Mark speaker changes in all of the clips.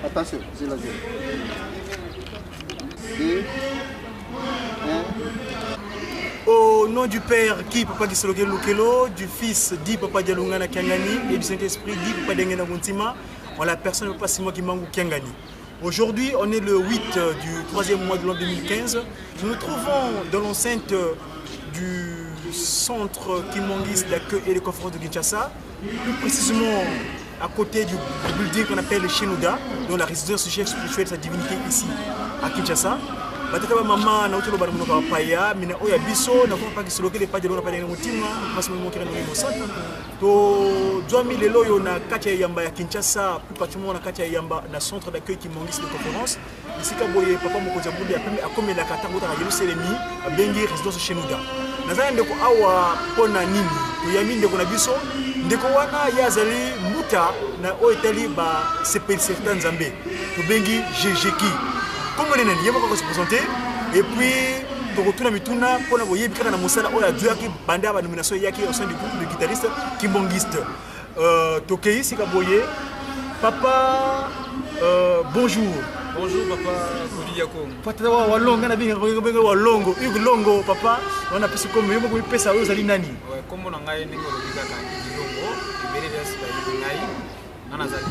Speaker 1: Attention, c'est la zone. Deux. Au nom du
Speaker 2: Père, qui Papa Gisoloke Lukelo, du Fils, dit Papa Dialungana Kiangani, et du Saint-Esprit, dit Papa Dengena Guntima, en la personne de Papa Simon Kimangou Kiangani. Aujourd'hui, on est le 8 euh, du 3e mois de l'an 2015. Nous nous trouvons dans l'enceinte euh, du centre Kimongis d'accueil et de conférence de Kinshasa, plus précisément à côté du building qu'on appelle le Shenouda, dont la résidence du chef spirituel de sa divinité ici à Kinshasa. batata ba mama nauti loba na monoko ya paya mina oyo ya biso nakomi pakisoloki lepa delona paya na motima mpasi momokira na mosantu tozwami lelo oyo na kati ya eyamba ya kinshasa plus particulièrement na kati ya eyamba na centre d'accueil kimongisi de conférence esika boye papa mokonzi ya bundi apemi akomelaka ntango otaka yerusalemi abengi résidence shenoda naza na ndeko awa mpo na nini toyami ndeko na biso ndeko wana ye azali mbuta na oyo etali basepelisa ta nzambe tobengi jejeki nkombo nde nani ye moko akosepresente epuis tokotuna mituna mpo na boyebi kaka na mosala oyo azwaki banda banomination eyaki le guitariste kimbongiste euh, tokei sika boye papa euh, bonjour bonjour papa
Speaker 3: koliyako patata wa walonga
Speaker 2: na binga benga walongo hugo longo papa wana pesi kombo yo moko mipesa oyo ozali nani kombo na ngai ndenge
Speaker 3: olobi kaka longo ebele bya sika ngai nga nazali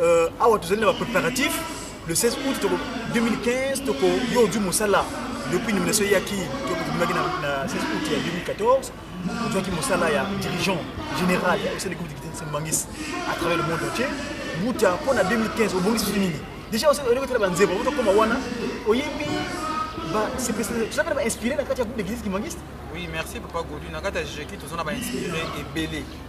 Speaker 2: Euh, awa tozali na ba préparatifs le 16 août toko 2015 toko yo du mosala depuis nomination eyaki tobimaki na 16 août ya 2014 ozwaki mosala ya dirigeant général ya osali groupe de sembangis à travers le monde entier buta mpo na 2015 obongisi biso nini déjà olingi otala banzembo otokoma wana oyembi tozalaka na bainspiré na kati ya groupe de guise kimangiste oui merci papa
Speaker 3: godu na kati ya jeki toza na bainspiré ebele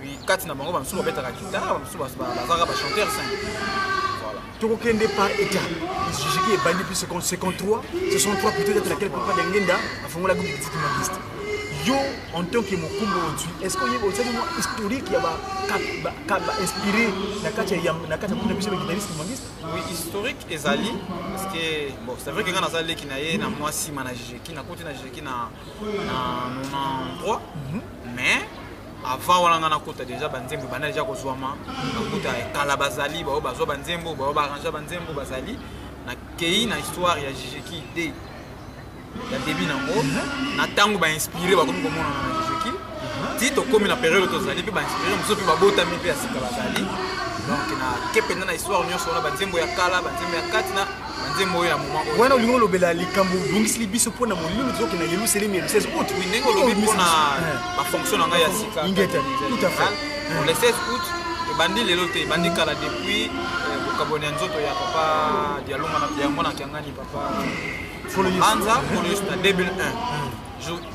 Speaker 3: puis kati na bango bamosusu babetaka guitare bamosusu bazalaka bachanteur sain voilà tokokende par
Speaker 2: état jijiki ebandi puis 53 63 plutôt d'être laquelle papa dengenda afongolaki petite magiste yo en tant que mokumba ozwi est ce que oyebi osali mwa historique ya bainspiré na kati ya na kati ya kuna biso baguitariste magiste oui historique
Speaker 3: ezali parce que bon c'est vrai que nga naza leki na ye na mwa nsima na jijeki nakoti na jijeki na 93 mais avant wana nga nakota deja banzembo banda deja kozwama nakuta kala bazali baoyo bazwa banzembo baoyo baarrange banzembo bazali nakei na histoire ya jijeki de ya debi nango na ntango bainspire bakomi komonana na jijeki ti tokomi na periode tozali mpe bainspire mosusu mpe babotami mpe ya sika bazali donc nake mpenza na histoire nyonso wana banzembo ya kala banzembo ya kati na nzembo oyo ya moma oyo wana olingi olobela
Speaker 2: likambo obongisili biso mpo na molimo tozokende na yelusalemi ya 16 août oui ndenge olobi mpo na
Speaker 3: bafonction na ngai ya sika ingeta tout à
Speaker 2: fait pour le
Speaker 3: 16 août ebandi lelo te ebandi kala depuis euh, bokabwani ya nzoto ya papa dialonga ya mwana kiangani papa anza kolo yesu na 2001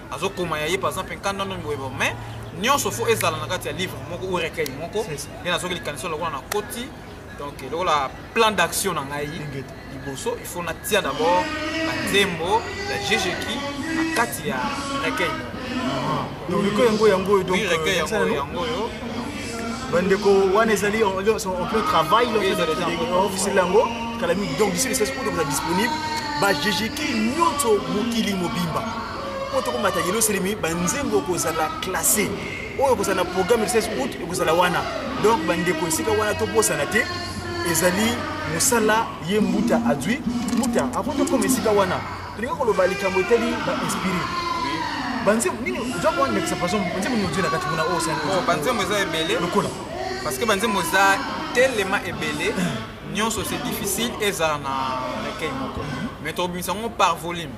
Speaker 3: azokoma ya ye par exemple nkanda ndoni boye boye mais nyonso fo ezala na kati ya livre moko ou recueil moko nde nazoki likanisi lokola na koti donc lokola plan d'action na ngai liboso il faut natia d'abord banzembo ya jejeki na kati ya recueil moko
Speaker 2: donc recueil yango yango oyo donc recueil yango yango oyo bandeko wana ezali en plein travail ofiseli yango kala mingi donc biso lisasi oyo tokoza disponible bajejeki nyonso mokili mobimba mpo tokomata yelo selemi banzembo kozala classe oyo ekozala na programme ya 16 août ekozala wana donc bandeko esika wana tobosana te ezali mosala ye mbuta azwi mbuta avant tokoma esika wana Olingi koloba likambo etali ba inspire banzembo nini oza kowana ndakisa par exemple banzembo nini ozwi na kati kuna oyo osani oh, banzembo eza ebele
Speaker 3: lokola parce que banzembo eza telema ebele nyonso c'est difficile ezala na recueil moko mais tokobimisa yango par volume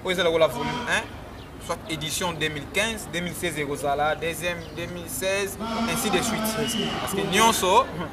Speaker 3: oyo eza lokola volume 1 soit édition 2015 2016 ekozala deuxième 2016 ainsi de suite parce que nyonso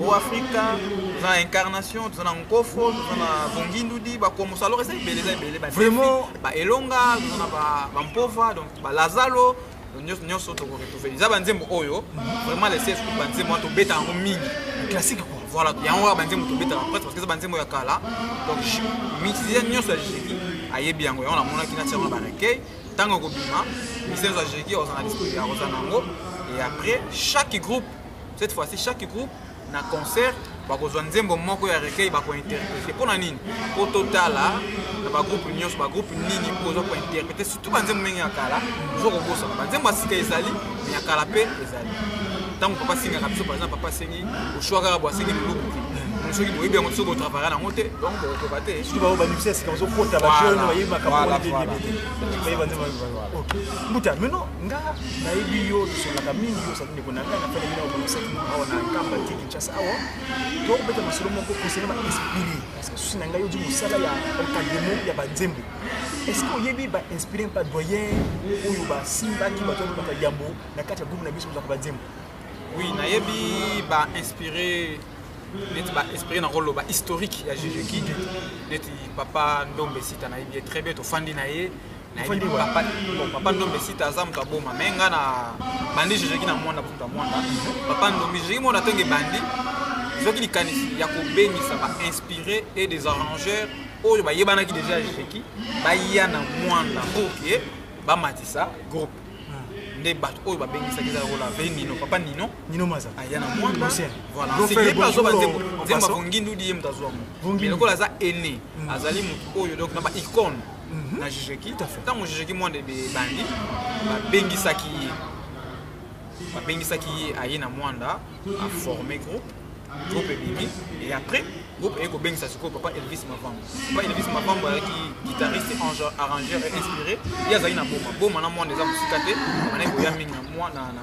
Speaker 3: o afrika toza na incarnation toza na nkofo toza na bongindudi bakomoso alors eza ebele eza ebele baelonga toza na bampova donc balazalo nyonso nyonso tokoretrouve eza banzembo oyo vraiment lese escout banzembo wana tobeta yango mingi classique quoi voilà yango kaka banzembo tobetaka presque parce que eza banzembo ya kala donc musicien nyonso ya jeki ayebi yango yango namonaki na tiango na barecueil ntango ekobima musicien nyonso ya jeki ozana discours ya kozana yango et après chaque groupe cette fois-ci chaque groupe na concert bakozwa nzembo moko ya recueil bakointerprete mpo na nini mpo totala na bagroupe nyonso bagroupe nini mpo oza kointerprete surtout banzembo ndenge ya kala oza kobosana banzembo ya sika ezali ya kala mpe ezali ntango papa asengaka biso par exemple papa asengi oshwa kaka bo asengi luluku soki boyebi yango soki botravaya yango te donc bokokoka te soki bao banimisi ya sika bazokota bajeune bayebi makamboyebimakambuta mino nga nayebi yo tosolaka mingi yo ndeko na ngai nafani bino bamonisaki awa na nkamba te kinshasa awa tokobeta masolo moko kosena bainspire parce que susi na ngai oji mosala ya encadrement ya banzembo est ce que oyebi bainspire mpa doyen oyo basimbaki bato babaka yambo na kati ya groupe na biso bozaka banzembo oui nayebi bainspire neti baesprit na koloba historique ya juge kidi neti papa ndombe sita nayebi ye très bien tofandi na ye papa papa ndombe sita aza moto aboma me nga na bandi jejeki na mwanda moto ya mwanda papa ndombe jejeki mwana ntongo ebandi ezwaki likanisi ya kobengisa bainspire et des arrangeurs oyo bayebanaki deja ya jejeki baya na mwanda pour ke bamatisa groupe nde bato oyo babengisaki eza lokola ve nino papa nino nino maza aya na mwanda azoba nzembo nzembo avongi ndudi ye moto azwa mo lokola aza aine azali moto oyo donc na baicone na jejeki ntango jejeki mwanda ebandi babengisaki ye babengisaki ye aye na mwanda aforme groupe groupe ebimi et après groupe eye kobengisa sikoyo papa elvis mavambo papa elvis mavambo ayaki guitariste arrangeur et inspiré ye azali na boma boma na mwanda eza mosika te manai koya mingi na mwa na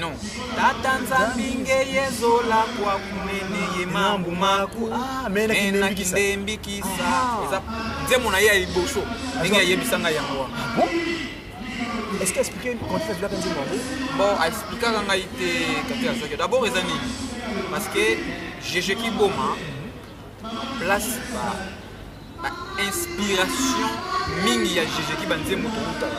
Speaker 3: No. Tata nzambi ngeye zola kwa kumene ye mambu maku ah, mena kindembi kisa ah. eza nzembo na ye ya liboso ndenge ayebisa ngai yango wana ah est-ce que expliquer contexte bilaka nzembo yango bon aexplikaka ngai te kati azaki d'abord eza nini parce que jeje kiboma place ba ba inspiration mingi ya jeje ki banzembo tokutaka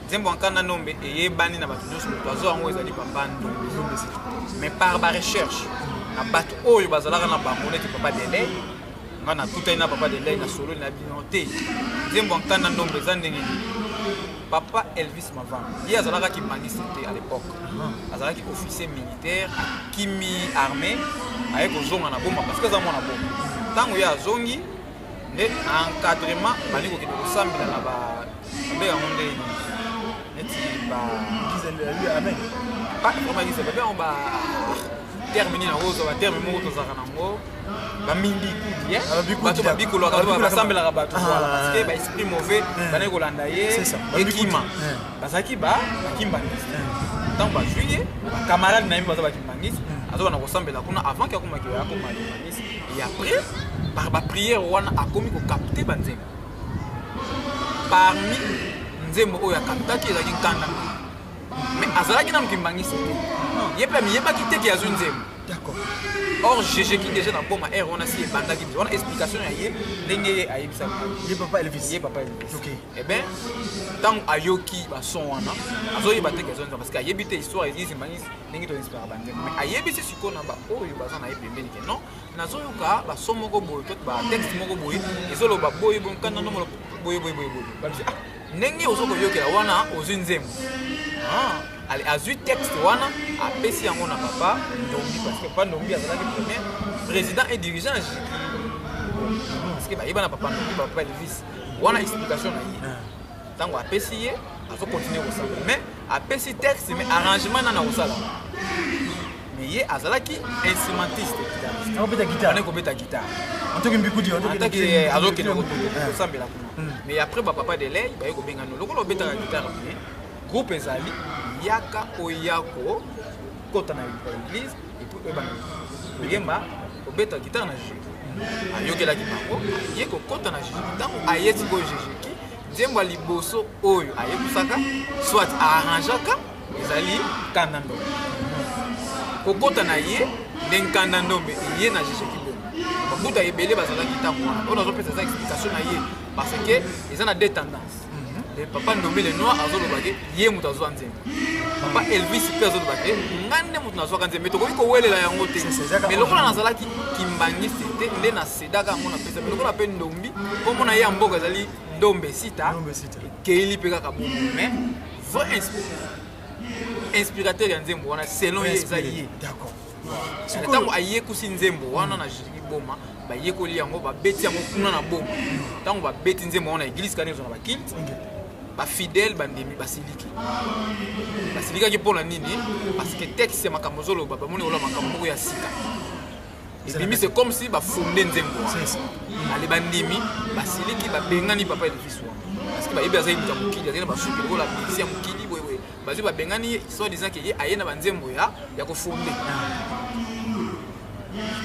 Speaker 3: nzembo ya nkanda nombe eyebani na bato nyonso moto azo yango ezali papa ndombe mais par barecherche na bato oyo bazalaka na bango neti papa delai nga nakutani na papa delai na sololi na bino te nzembo ya nkanda nombe eza ndenge nini papa elvis mavan ye azalaka kimangiste te à l'époque ah. azalaki officier militaire akimi armée aye kozonga na boma parce que aza mwana boma ntango ye azongi nde encadrement bandi kokende kosambela na ba nde yango nde neti ba bakomagisa babe yango ba terme nini yango ozwa baterme moko tozalaka nango bamindikubato babikolaka basambelaka bato parceke baesprit mauvais bandaki kolanda ye ekima bazalaki bakimbangiste ntango bazwi ye bakamarade na ye baza bakimbangiste azobana kosambela kuna avant ke akomaki akoma et après par ba prière wana akomi ko capter ba nzembo parmi nzembo oyo akaptaki ezalaki nkanda mais azalaki nanu kimbangisi te ye mpe amiyebaki te ke azwi nzembo or jejeki déjà na boma aire wana si ebandaki biso wana explication ya ye ndenge ye ayebisaka ye papa elvis ye
Speaker 2: papa elvis okay. e eh
Speaker 3: bien ntango ayoki bason wana azoyeba te ke azonza parce que ayebi te histoire ezimbanisi ndenge to inspiraka banzembo mais ayebisi sikoyo na baoyo baza na ye pembeni ke non nazoyoka baso moko boye to batexte moko boye ezoloba boye boye nkanda no molo boye boye boye boye babisi ah, ndenge ozo koyokela wana ozwi nzembo ah, azwi texte wana apesi yango na papa ndombi parce que papa ndombi azalaki premier président et dirigeant parce que bayeba na papa ndombi papa elvis wana explication na ye ah. ntango apesi ye azo continue kosala mais apesi texte mais arrangement nana kosala mais ye azalaki instrumentiste akobeta
Speaker 2: guitare kobeta guitare
Speaker 3: antoki mbikudi
Speaker 2: antoki eh, azokende
Speaker 3: eh. kosambela kuna hmm. mais après bapapa de lei baye kobenga no lokola obetaka guitare boye groupe ezali yaka oyako kota na eglise epuis oyebana koyemba kobeta gitare na jijiki ayokelaki bango aye kokɔta na jijiki ntango aye sikoyo jijiki nzembo ya liboso oyo ayebisaka soit aarrangeaka ezali kanda ndombe kokɔta na ye nde nkanda ndombe eye na jijiki bongo babuta ebele bazalaki ntango wana oyo nazopesa eza explication na ye parce que eza na deux tendance Eh, papa ndombele noir azoloba te ye moto azwa nzembo papa elvis mpe azoloba te nga nde moto nazwaka nzembo tokoki kowelela yango te me lokola nazalaki kimbangisi te nde nasedaka yango na pesa me lokola mpe ndombi nkombo na ye ya mboka ezali ndombe sita ekeyeli mpe kaka bongo me vrai inspirateur ya nzembo wana selon ye eza ye ntango ayekusi nzembo wana na jiki boma bayekoli yango babeti yango kuna na boma ntango babeti nzembo yango na eglise kani ezo na bakilte bafidèle bandimi basiliki basilikaki mpo na nini parce que texte ya makambo ozoloba bamoni oloba makambo moko ya sika ebimi se comme si bafonde nzembo ale bandimi basiliki babengani papa elvis wana parce que bayebi azali moto ya mokili azali na basuki lokola bisi ya mokili bazwi babengani ye soit disant ke ye aye na banzembo ya ya kofonde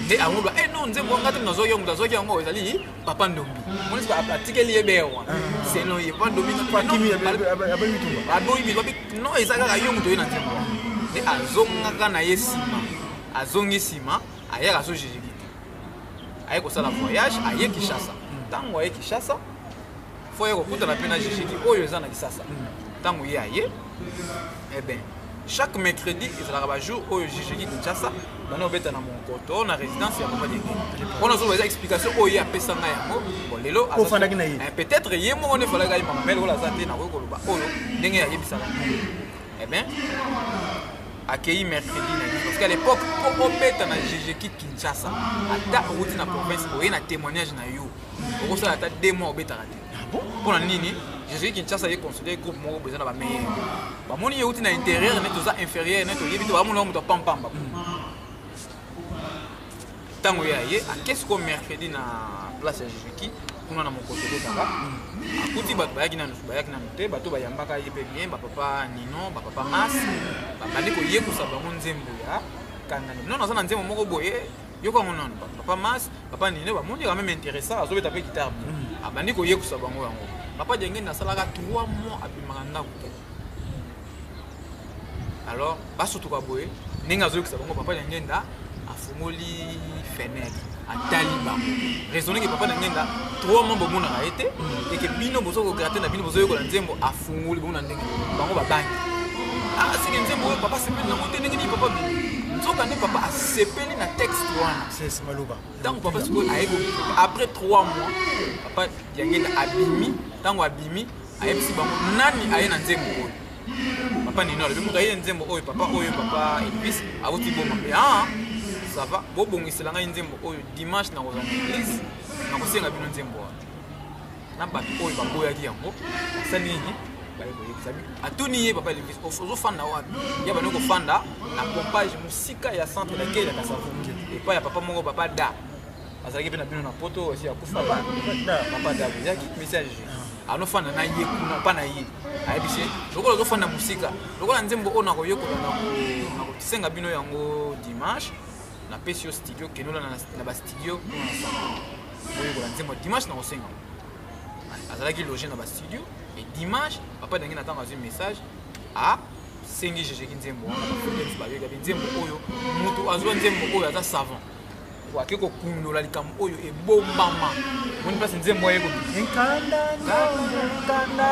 Speaker 3: nde ango ba eh non nzembo ngati nazo yo mutu azoki yango ezali papa ndombi moni ba atikeli ye bere wana c'est non ye papa ndombi na papa kimi aboyi
Speaker 2: bitumba
Speaker 3: aboyi bitumba non eza kaka yo mutu ye na nzembo nde azongaka na ye nsima azongi nsima ayaka azojijiki te aye kosala voyage aye kinshasa ntango aye kinshasa fo ye kokutana mpe na jijidi oyo eza na lisasa ntango ye aye eben eh chaque mercredi ezalaka bajour oyo jijidi kinshasa bana obeta na monkoto na résidence ya mobali mpona zoba eza explication oyo ye apesa ngai yango lelo ofandaki na ye eh, peut-être ye moko nde efalaki ayeba mamele oyo aza te nakoki koloba oyo ndenge ayebisaka eben eh akei mercredi na ye parce qu'à l'époque po obeta na jijeki kinshasa ata outi na province oye na témoignage na yo okosala ata deux mois obetaka te ah mpona nini jésus kinshasa ye considere groupe moko boza na bameilleur bamoni ye uti na intérieur neti oza inférieur neti oyebi te bamonaka moto apampamba ntango hmm. ye aye akesi ko mercredi na place ya jésus ki kuna na mokoto obetaka akuti bato bayaki nanu bayaki nanu te bato bayambaka ye mpe bien bapapa nino bapapa mas babandi koyekusa bango nzembo ya kangani nano aza na nzembo moko boye yoko yango nano papa mas papa nino bamoni quand même intéressant azobeta mpe guitare bien mm. abandi koyekusa bango yango papa jengeni asalaka 3 mois abimaka ndako te alors basutuka boye ndenge azoyokisa bango papa jengenda afungoli fenêtre atali bango raisonne ke papa na ngai nga trois mois bomonaka ye te eke bino bozo kograte na bino bozoyekola nzembo afungoli bongo na bango babangi ah, seke nzembo oyo papa sepeli nango te ndenge nini papa nzoka nde papa asepeli na texte wana maloba ntango
Speaker 2: papa sikoyo aye
Speaker 3: après 3 mois papa yangenda abimi ntango abimi ayebisi bango nani aye na nzembo oyo papa nini alobi moto aye nzembo oyo papa oyo papa elvis awuti boma mpe a ah, ça va bobongisela ngai nzembo oyo dimanche nakozala na église nakosenga bino nzembo wana na bato oyo baboyaki yango basali nini baye koyebisa bino atuni ye papa elvis ozofanda wapi ye bani kofanda na pompage mosika ya centre na kei ya kasavu epai ya papa moko papa da azalaki mpe na bino na poto esi akufa papa da boyaki message anofanda na ye kuna mpa na ye ayebisi ye lokola ozofanda mosika lokola nzembo oyo nakoyekola nakosenga bino yango dimanche napesi yo studio kenola na bastudio koyekola nzembo ya dimanche na kosenga azalaki loge na bastudio e dimanche papa elangi na ntango azwi message a sengi jejeki nzembo wana bafutensi bayoka mpe nzembo oyo moto azwa nzembo oyo aza savant ake kokundola likambo oyo ebombama moni mpasi nzembo aye konkanda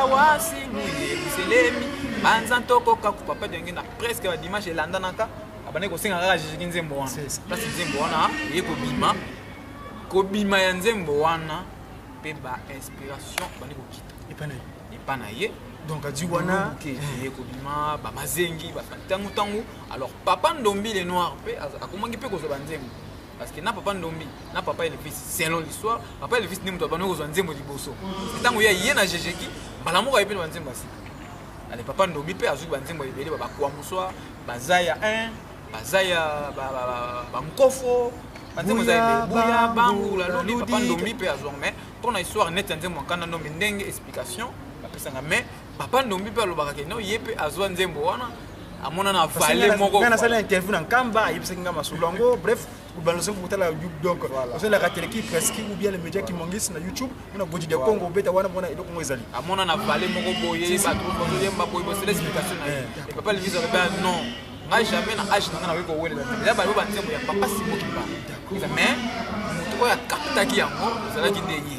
Speaker 3: wasimi eluselemi banza ntokoka kopapa denge na preske badimanche elandanaka abandaki kosenga kaka jejeki nzembo wana mpasi nzembo wana eye kobima kobima ya nzembo wana mpe ba inspiration bandi kokita epa na ye epa na ye donc adi wana
Speaker 2: eye kobima
Speaker 3: bamazengi ntango ntango alors papa ndombi le noir mpe akomaki mpe kozwa banzembo parce que na papa ndombi na papa elvis selon l'histoire papa elvis nde moto abandi kozwa nzembo liboso ntango ya ye na jejeki mbala moko aye mpe na banzembo ya sika ale papa ndombi mpe azwi banzembo ebele babakwamoswa bazaya 1 baza ya bankofo buya bangu laludi papa ndombi mpe azwa mai mpo na histoire neti ya nzembo nkanda ndombi ndenge explication bapesanga mai papa ndombi mpe alobaka ke no ye mpe azwa nzembo wana amonana vale moko nasali interview na nkamba
Speaker 2: ayebisaki nga masolo yango bref banda soki kotala youtube donc ozolaka teleki presque ou bien le média qui mongisi na youtube mpona godi de congo obeta wana mpona eloko ngo ezali amona na vale moko
Speaker 3: boye bato bazoyemba boye bosela explication na ye eh. papa levise aloba non ngai jamais na age na ngai nakoki kowelela te eza bayo banzembo ya papa simokiba mais moto oyo akaptaki yango ezalaki nde ye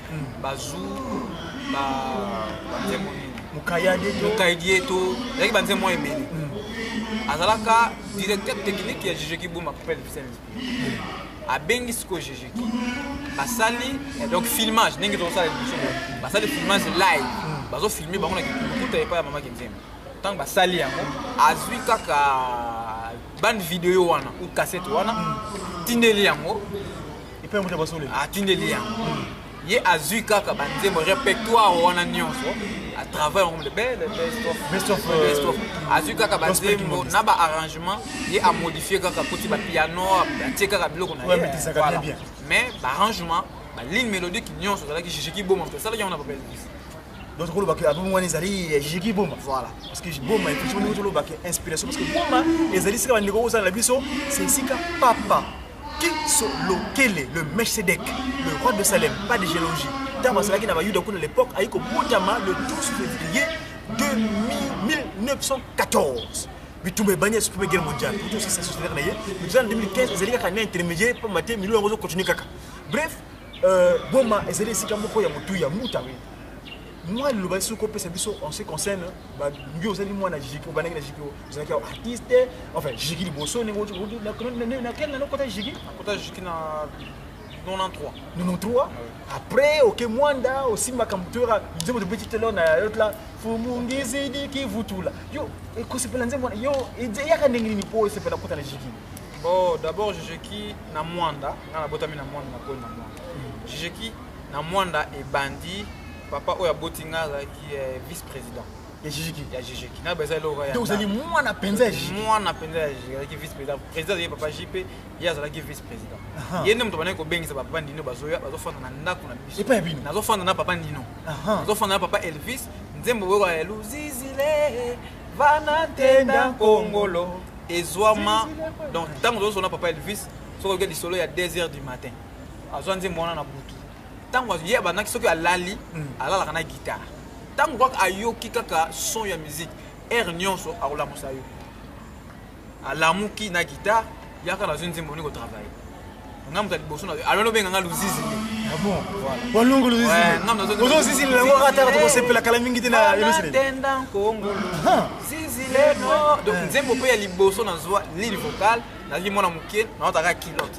Speaker 3: bazu ba banzembo nini mukayadie to ezalaki banzembo mwa ebele azalaka directeur technique ya jejeki boma papel vicente abengi sikoyo jejeki basali eh, donc filmage ndenge tozosala liboso basali filmage live hmm. bazofilme bango na kikuta epai ya mama kenzembo ntango basali yango azwi kaka bande video wana ou cassette wana hmm. tindeli yango epai moto
Speaker 2: basole atindeli yango
Speaker 3: ye azwi kaka banzembo répertoire wana nyonso atravaille yango le bel best of euh, azwi kaka banzembo na baarrangement ye amodifie kaka koti bapiano atie kaka biloko na ye mais baarrangement baligne mélodique nyonso azalaki jijiki boma moto asalaki yango na babel donc kolobaka
Speaker 2: album wana ezali ya jiki boma voilà parce que boma effectivement tolobaka inspiration parce que boma ezali sika bandeko kozala na biso c'est sika papa Kiso Lokele, le Melchizedek, le roi de Salem, pas de géologie. Ntango azalaki na Bayuda kuna l'époque, ayi kobotama le 12 février 1914. bitumba ebandi ya supreme guerre mondiale kutu osisa sociétaire na ye mais toza na 2015 ezali kaka na intermédiaire mpo mate milio yango ozokontinue kaka bref euh, boma ezali esika moko ya motu ya mbuta moi liloba soki kopesa biso en ce concerne yo ozali mwana jiki obandaki na jiki ozalaki ya artiste enfin jiki liboso na quel nano kota jiki kota jiki na 93 93 après oke mwanda osimbaka moto yoka nzembo tobeti telo na yotla fumungizidiki vutula yo ekosepela nzembo yo eyaka ndenge nini mpo esepela kota na jiki bon d'abord
Speaker 3: jijeki na mwanda nga nabotami na mwanda nakoli na mwanda jijeki Na Muanda ebandi papa oyo aboti nga azalaki eh, vice president ya jijiki ya
Speaker 2: jijiki na baza
Speaker 3: eloko ya ozali mwana penza
Speaker 2: ya jijiki mwana penza ya jijiki
Speaker 3: azalaki vice president president azalaki papa JP ye azalaki vice president ye nde moto banaki kobengisa papa Nino bazoya bazofanda na ndako na biso epai ya
Speaker 2: bino
Speaker 3: nazofanda na papa Nino nazofanda
Speaker 2: na
Speaker 3: papa Elvis nzembo oyo ya luzizile vana tenda kongolo ezwama donc ntango tozosona papa Elvis soki oyoki lisolo ya 2 heures du matin azwa nzembo wana na butu ntango ye abandaki soki alali hmm. alalaka na gitare ntango kaka ayoki kaka son ya miziki aire nyonso akolamusa yo alamuki na gitare yaka nazwi nzembo ni kotravaille nga moto ya liboso na alo lobenga nga luzizi walungu
Speaker 2: luzizibozo ozizi lelango kaka taka tokosepela kala mingi te na elosinatenda nkongolo
Speaker 3: zizi leno donc nzembo mpe ya liboso nazwa lile vocal nazwi mwana moke naotaka kilote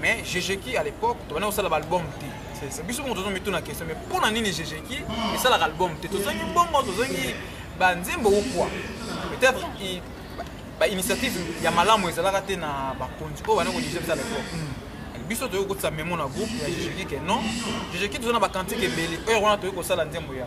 Speaker 3: mais jejeki à l'époque tobanda kosala baalbum te biso moko tozo mituna question mais mpo na nini jejeki esalaka album te tozongi bongo tozongi banzembo ou quoi peut-être bainitiative ya malamu ezalaka te na bakonzi oyo bana kodirige biso à l'époque hmm. biso toyei kokotisa memo na groupe ya jejeki ke non jejeki toza na bakantike ebele heure wana toyei kosala nzembo ya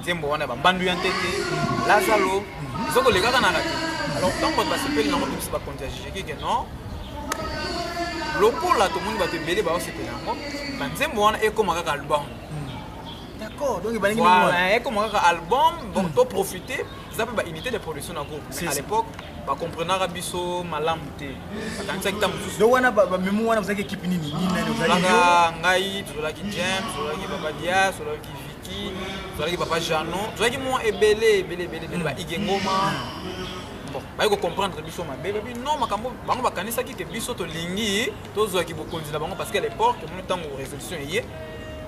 Speaker 3: nzembo wana ya bambandu ya ntete lazalo ezokolekaka na radio alors ntango bato basepeli nango tobisi bakonzi ya jijeki ke non lokola tomoni bato ebele baosepela yango banzembo wana ekóma kaka album d'accord
Speaker 2: donc ebalingi voilà ekoma kaka album
Speaker 3: bon hmm. to profiter eza mpe baunité de production na groupe mais à l'époque bacomprenaka biso malamu te bakanisaki ntango mosusu donc wana bamemo
Speaker 2: wana bozalaki équipe nini nini nani ozalaki ngai
Speaker 3: tozalaki james tozalaki papa dias tozalaki tozalaki papa jano tozalaki mwa ebele ebele ebele ebele baige ngoma bon baye kocomprendre biso mabe babi non makambo bango bakanisaki ke biso tolingi tozwaki bokonzi na bango parce que à l'époque omoni ntango résolution eye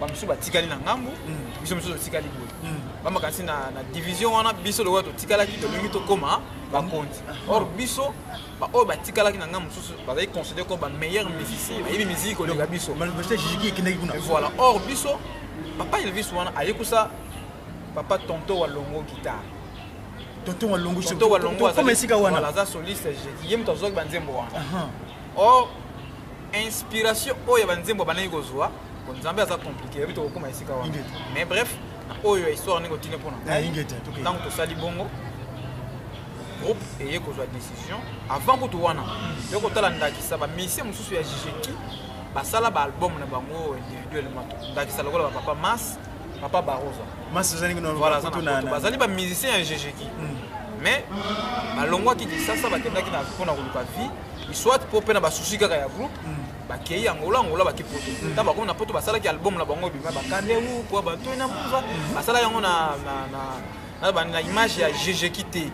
Speaker 3: bamosusu batikali na ngambu mm. biso mosusu totikali boye mm. bamakanisi na division wana biso lokola totikalaki tolingi tokóma bakonzi or biso baoyo batikalaki na ngai mosusu bazali considere comme bameilleur musicien bayebi miziki koleka biso voilà
Speaker 2: or biso
Speaker 3: papa elvis wana ayekusa papa tonto wa longo guitare tonto
Speaker 2: wa longo tonto wa longo esika
Speaker 3: wana aza soliste ye moto azwaki banzembo wana or inspiration oyo ya banzembo bandaki kozwa po nzambe aza komplike yebi tokokoma esika wana mais bref na oyo ya histoire ndenge otine mpona ntango tosali bongo groupe eye kozwa décision avant kutu wana yo kotala ndakisa bamisie mosusu ya jijeki basala baalbum na bango individuellement ndakisa lokola bapapa mas papa barosa
Speaker 2: bazali
Speaker 3: bamusicien ya jijeki hmm. mais balongwaki kisasa bakendaki mpona koluka vie soit mpo mpe na basusi kaka ya groupe hmm. bakei angola angola bake poto hmm. ntango bakomi na poto basalaki album na bango ebima bakande u kua bato na mbuza basala yango na naza bandi na image ya jejeki te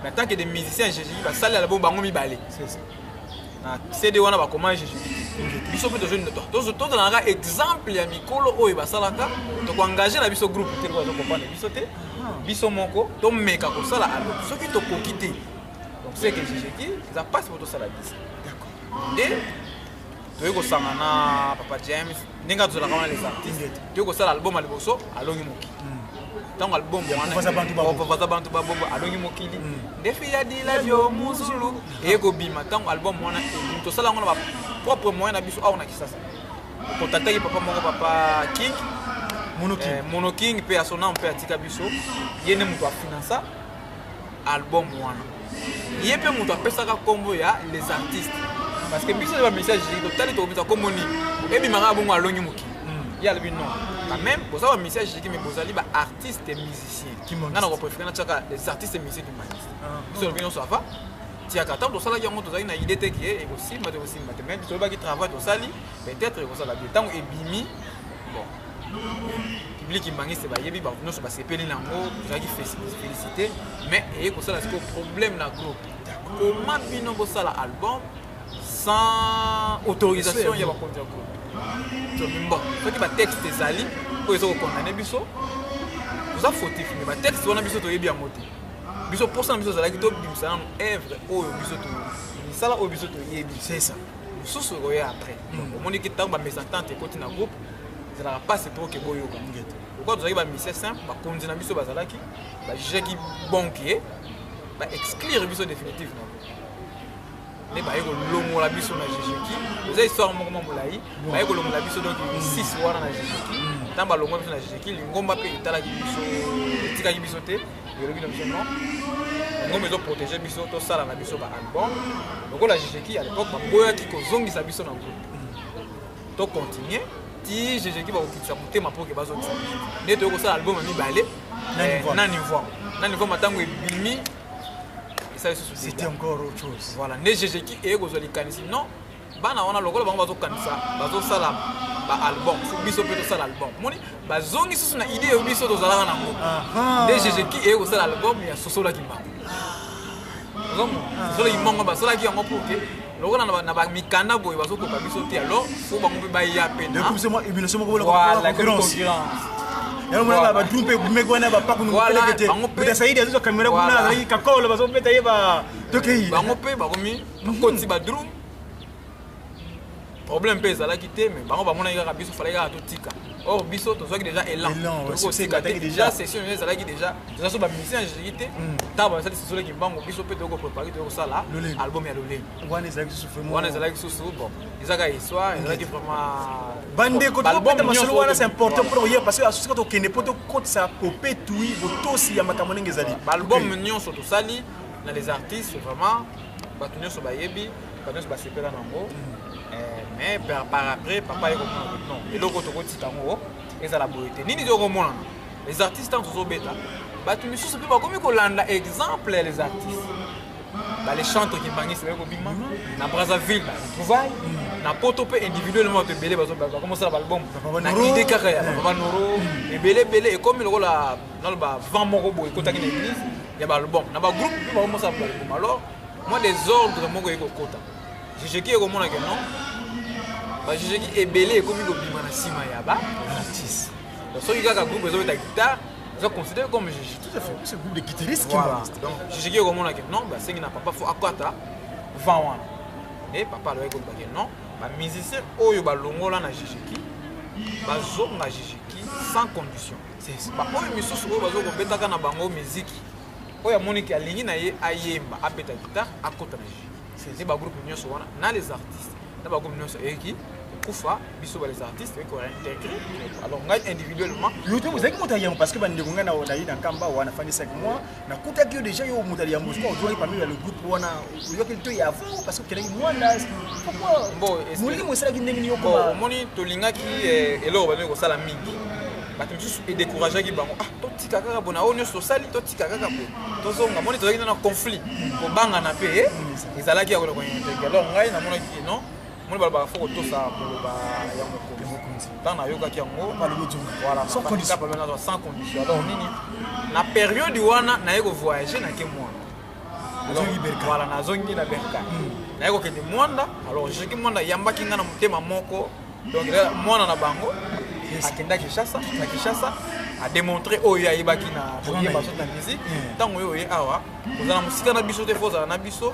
Speaker 3: mais tant que des musiciens ya jejeki basalela bo bango mibale na cd wana bakoma jejeki te biso mpe tozalaka exemple ya mikolo oyo basalaka tokoengage na biso groupe te po azokompane biso te ah. biso moko tomeka kosala alo soki tokoki te donc seke jejeki eza mpasi po tosala biso nde toyei kosangana papa james ndenge azolaka wana les artistes toyei kosala album ya liboso alongi mokili ntango album wanabaza bantu babongo alongi mokili ndefi ya dilabio muzulu eye kobima ntango album wana ebimi tosala yango na bapropre moyen na biso awa na kisasa kontaktaki papa moko papa king monoking mpe asona mpe atika biso ye nde moto afinansa album wana ye mpe moto apesaka nkombo ya les artistes parce que biso ba message totali tokobisa nkombo nini ebimaka bongo alongi mokili hmm. ye alobi non quand même boza ba message jiki mais bozali ba artiste musicien nga na kopréféré natiaka les artistes musicien kimaniste ah. biso olobi nyonso ava tiaka ntango tosalaki yango tozalaki na idée te ke ekosimba te ekosimba te mais biso olobaki travail tosali peut-être ekosala bien ntango ebimi bon public kimbanguiste bayebi bato nyonso basepeli na yango tozalaki félicité mais eye kosala sikoyo problème na groupe koma bino bosala album sans autorisation ya bakonzi ya groupe tobimbo soki batexte ezali oyo eza kokondane biso toza fautif mais batexte wana biso toyebi yango te biso mposa na biso ezalaki tobimisa nano evre oyo biso misala oyo biso toyebi sesa
Speaker 2: mosusu ekoya
Speaker 3: après donc omoni ki ntango bamesentente ekoti na groupe ezalaka mpasi mpo oke boyoka lokola tozalaki bamisie simple bakonzi na biso bazalaki bajugaki bon ke baexclure biso définitive na nde baye kolongola biso na jejeki oza histoire moko mwa molai baye kolongola biso donc six wana na jejeki ntango balongola biso na jejeki lingomba mpe etalaki biso etikaki biso te biologie na biso non yango mezo protéger biso tosala na biso ba album lokola jejeki à l'époque baboyaki kozongisa biso na groupe to continuer ti jejeki bakokitisa motema mpo ke bazongisa biso nde toyei kosala album ya mibale na niveau na niveau matango ebimi esa
Speaker 2: lisusu c'était encore autre chose voilà nde jejeki eye
Speaker 3: kozwa likanisi non bana wana lokola bango bazokanisa bazosala baalbum fo biso mpe tosala album moni bazongi susu na idée oyo biso tozalaka nango nde jejeki eye kosala album ya sosolaki mbango ozomo sosolaki mbango basalaki yango mpo te lokola na bamikanda boye bazokoka biso te alors fo bango mpe baya mpe yalomona badru
Speaker 2: mpe gumeki wana bapakunukeleketesaidi azozwa kamera kuna azalaki kakolo bazobeta ye ba tokei bango mpe bakomi
Speaker 3: bakoti badrum problème mpe ezalaki te mais bango bamonaki kaka biso falaki kaka totika or biso tozwaki déjà élan tokosika te déjà session oyo ezalaki déjà toza so bamusicien ya jeki te ntango hmm. basali sesio leki mbango biso mpe toyoko prépare toyoko sala album ya lolenge wana ezalaki susu wana ezalaki susu bon eza kaka histoire ezalaki vraiment bandeko tokobeta
Speaker 2: masolo wana c'est important mpona koyeba parce que asusi kaka tokende mpo tokotisa popetui botosi ya makambo ndenge ezali baalbum nyonso
Speaker 3: tosali na les artistes vraiment bato nyonso bayebi bato nyonso basepela nango eh, mais par après papa ye komona non eloko tokotika yango ezala boye te nini tokomonana les artistes ntango tozobeta bato misusu mpe bakomi kolanda exemple ya les artistes bale chante okibangisi baye kobima na brazzaville na retrouvaille na poto mpe individuellement bato ebele bakomosala baalbum na ide kaka ya babanoro ebele ebele ekomi lokola naloba vent moko boye ekotaki na église ya baalbum na bagroupe mpe baomosa baalbum alors mwa desordre moko eye kokota jejeki ekomona ke non bajejeki ebele ekomi kobima na nsima ya baartiste soki kaka groupe ezobeta guitare eza considéré comme jejeki tout à fait c'est groupe de
Speaker 2: guitariste qui voilà donc jejeki ekomona
Speaker 3: ke non basengi na papa fo akata vent wana e papa alobaki koloba ke non bamusicien oyo balongola na jejeki bazonga jejeki sans condition baoyo misusu oyo bazo kobetaka na bango miziki oyo amoni ke alingi na ye ayemba abeta gitare akota na jeu nde bagroupe nyonso wana na les artistes na bagroupe nyonso eyeki kokufa biso ba les artistes eko réintégrer alors ngai individuellement yo te ozalaki moto ya
Speaker 2: yango parce que bandeko ngai nayi na kamba wana fandisaki moi nakutaki yo déjà yo moto ya yambo soki ozwaki pamela le groupe wana oyoki to ya avant parce que okelaki mwana pourquoi molimo
Speaker 3: esalaki ndenge
Speaker 2: nini okoma omoni tolingaki
Speaker 3: eh, eloko bameki kosala mingi bato mosusu edécourageaki bango ah totika kaka bona oyo nyonso tosali totika kaka po tozonga moni tozalaki na conflit kobangana mpe eh, ezalaki ya koloko alors ngai namonaki non moni balobaka fo kotosa koloba ya mokonzi ntango nayokaki yango walaapalonazwa sans condition alors nini na periode wana naye kovoyage nake mwana wala nazongi na berka hmm. naye kokende mwanda alors joki mwanda yambaki ngai na motema moko donc mwana na bango akenda kinshasa na kinshasa ademontre oyo ye ayebaki na koyeba soki na musique ntango oyo oye awa ozala mosika na biso te fo ozala na biso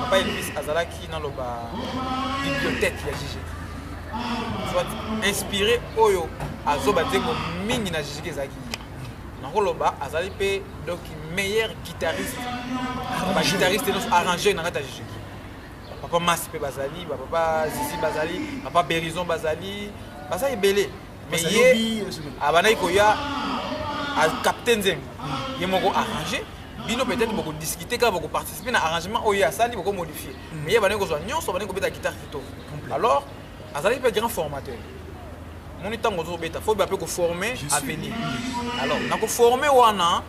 Speaker 3: papa elvis azalaki naloba bibliothèque ya jiji soit inspiré oyo azoba nzembo mingi na jiji ezalaki nakoloba azali mpe donc meilleur guitariste baguitariste nyonso arrangeur na kati ya jiji papa masi mpe bazali bapapa zizi bazali papa berison bazali baza ebele mais ye abandaki koya acapte nzembo ye moko arrange bino peut-être bokodiscute kaka bokoparticipe na arrangement oyo ye asali bokomodifie mm. mais ye abandaki kozwa nyonso abandaki kobeta guitare kitoko alors azalaki mpe grand formateur moni ntango ozobeta fo bape koforme avenir alors na koforme wana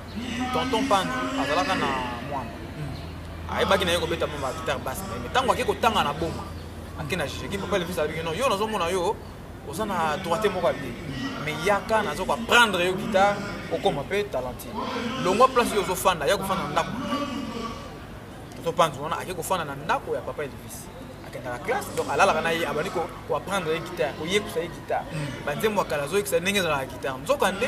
Speaker 3: tonton pandi azalaka na mwana mm. ayebaki na ye kobeta mwa bagitare basi na ye mais ntango ake kotanga na boma ake na jijeki papa levisi alobiki no yo nazomona yo oza na droite moko ya bien mais yaka naza koapprendre yo guitare okoma mpe talentine longwa place yo ozofanda ya kofanda na ndako tozopanzu wana ake kofanda na ndako ya papa elvis akendaka classe donc alalaka na ye abandi koapprendre ye guitare koyekusa ye guitare hmm. banzembo ya kala azoyekisa ndenge ezalaka guitare nzoka nde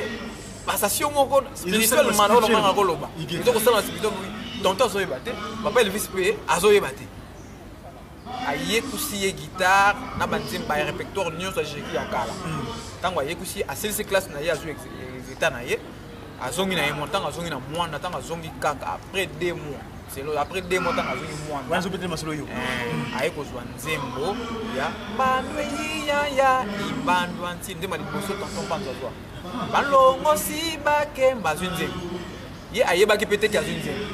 Speaker 3: basasio moko spirituellement olonganga koloba ezokosala na spirituel tonto azoyeba te papa elvis mpe azoyeba te ayekusi ye guitare na banzembo ya repertoire nyonso ajeki ya kala ntango ayekusi asilisi classe na ye azwi exeta na ye azongi na ye mwa ntango azongi na mwana ntango azongi kaka après deux mois selo après deux mois ntango azongi mwanazobetele masolo yo
Speaker 2: eh, aye kozwa
Speaker 3: nzembo ya bandwe yiyaya ibandwa nti nzembo ya liboso tonton panzo azwa balongosi bakemba azwi nzembo ye ayebaki mpe teke azwi nzembo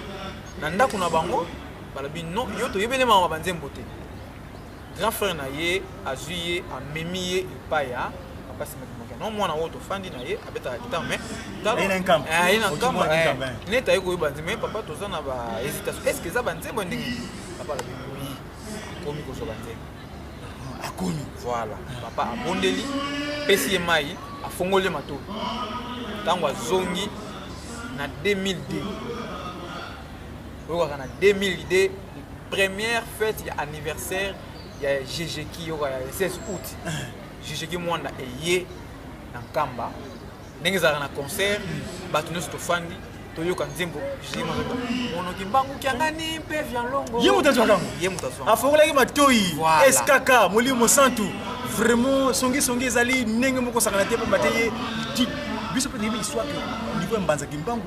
Speaker 3: na ndako na bango balobi non yo toyebeli mama banzembo te grand frère na ye azwi ye amemi ye epai ya papa simakimaki yango mwana oyo tofandi na ye abetaka gitare mais
Speaker 2: aye na nkambo eh, eh.
Speaker 3: neti aye koyeba nzembo ye papa toza na bahésitation est ce que eza banzembo ndenge papa alobi oui akomi kozwa banzembo akomi
Speaker 2: voilà
Speaker 3: papa abondeli pesi ye mai afongoli ye matoi ntango azongi na 2002 oyokaka na 2000 idee première fête ya anniversaire ya jejeki yoka ya 16 août jejeki mwanda eye na nkamba ndenge ezalaka na concert bato nyonso tofandi toyoka nzembo monoki mbangu kiangani mpe vialongo ye moto azwaka ye moto
Speaker 2: azwaka afokolaki
Speaker 3: matoi
Speaker 2: skk molimo mosantu vraiment songisongi ezali ndenge moko sakana te mpamba te ye biso mpe toyebi histoire ke niveau ya mbanza kimbangu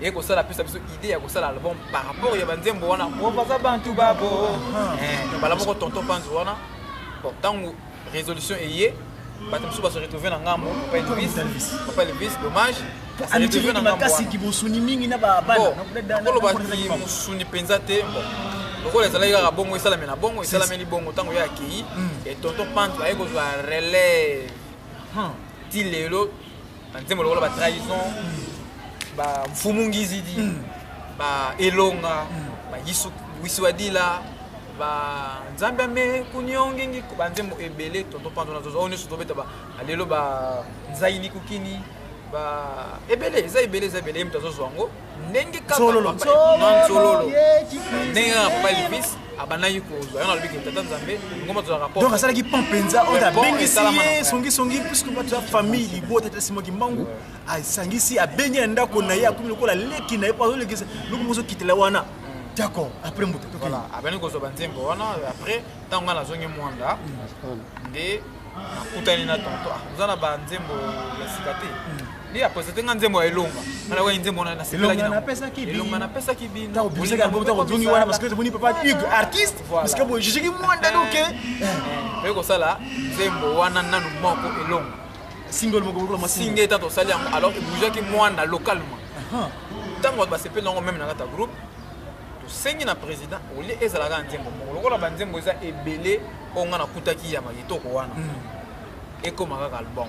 Speaker 3: ye kosala apesa biso idée ya kosala album par rapport ya banzembo wana baza bantu babo eh, bala moko tonton panzo wana bon ntango résolution eye bato mosusu baso retrouve na ngambo papa elvis papa elvis dommage
Speaker 2: makasi kibosuni mingi na babanakoloba ti
Speaker 3: mosuni mpenza te lokola ezalaki kaka bongo esalami na bongo esalameli bongo ntango ye akei hmm. e tonton pante aye kozwa relève hmm. ti lelo na nzembo lokola ba trahison ba mfumu ngizidi ba elonga ba yisu wisiwadila ba nzambe ame kunyongingi ba nzembo ebele tonto panzo na zozo oyo nyonso tobeta ba lelo ba nzaini kukini ba ebele eza ebele eza ebele ye moto azozwa yango ndenge kakololo ndenge kaka papa elvis abandaki kozwa yango nalobi kini tata nzambe ngoma tozwaka po donc asalaki pont mpenza
Speaker 2: oyo abengisi ye songisongi puisque bato ya famille libota te sima kimbangu asangisi abengi na ndako na ye akomi lokola leki na ye po azolekisa loko mozokitela wana d'accord après moto abandi kozwa
Speaker 3: banzembo wana après ntango ngai nazongi mwanda nde nakutani na tonto ah, oza na banzembo ya sika te Nde apresente nga nzembo ya elonga. Nga nayoka nzembo wana nasepelaki na. Elonga napesaki bino. Elonga napesaki bino. Tango bimisaki album tango ozongi
Speaker 2: wana parce que tomoni papa Hugues artiste parce que boye jugeki mwanda donc. Eh. Eh, oye
Speaker 3: kosala nzembo wana nanu moko elonga. Single moko
Speaker 2: lokola mwa single. Single tata osali yango alors
Speaker 3: ebougeaki mwanda localement. Tango bato basepeli nango meme na kata groupe tosengi na président olie ezalaka na nzembo moko lokola banzembo eza ebele oyo ngai nakutaki ya makitoko wana hmm. ekoma kaka album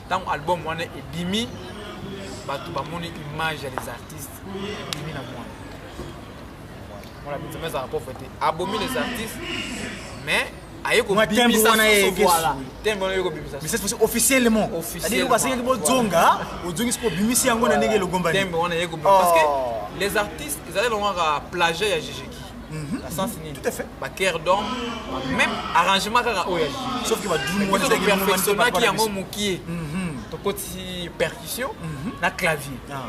Speaker 3: ntango album wana ebimi bato bamoni image ya les artistes ebimi na mwana mwana benzema ezalaka pauvre te abomi les artistes mais aye kobimisa wana ye soso voilà tembe wana ye kobimisa mais cette fois-ci officiellement
Speaker 2: Officiellement, c'est-à-dire basengaki voilà. bozonga ozongisi mpo obimisi yango na ndenge elogombani
Speaker 3: tembe wana ye kobimisa parce que les artistes ezali longo kaka plagiat ya
Speaker 2: jejeki
Speaker 3: Mhm. na sens nini tout à fait ba cœur
Speaker 2: d'homme
Speaker 3: même arrangement kaka oyo sauf que ba drum wana
Speaker 2: ezali perfectionnaki
Speaker 3: yango mokie mhm. tokoti percussion mhm. na clavier ah.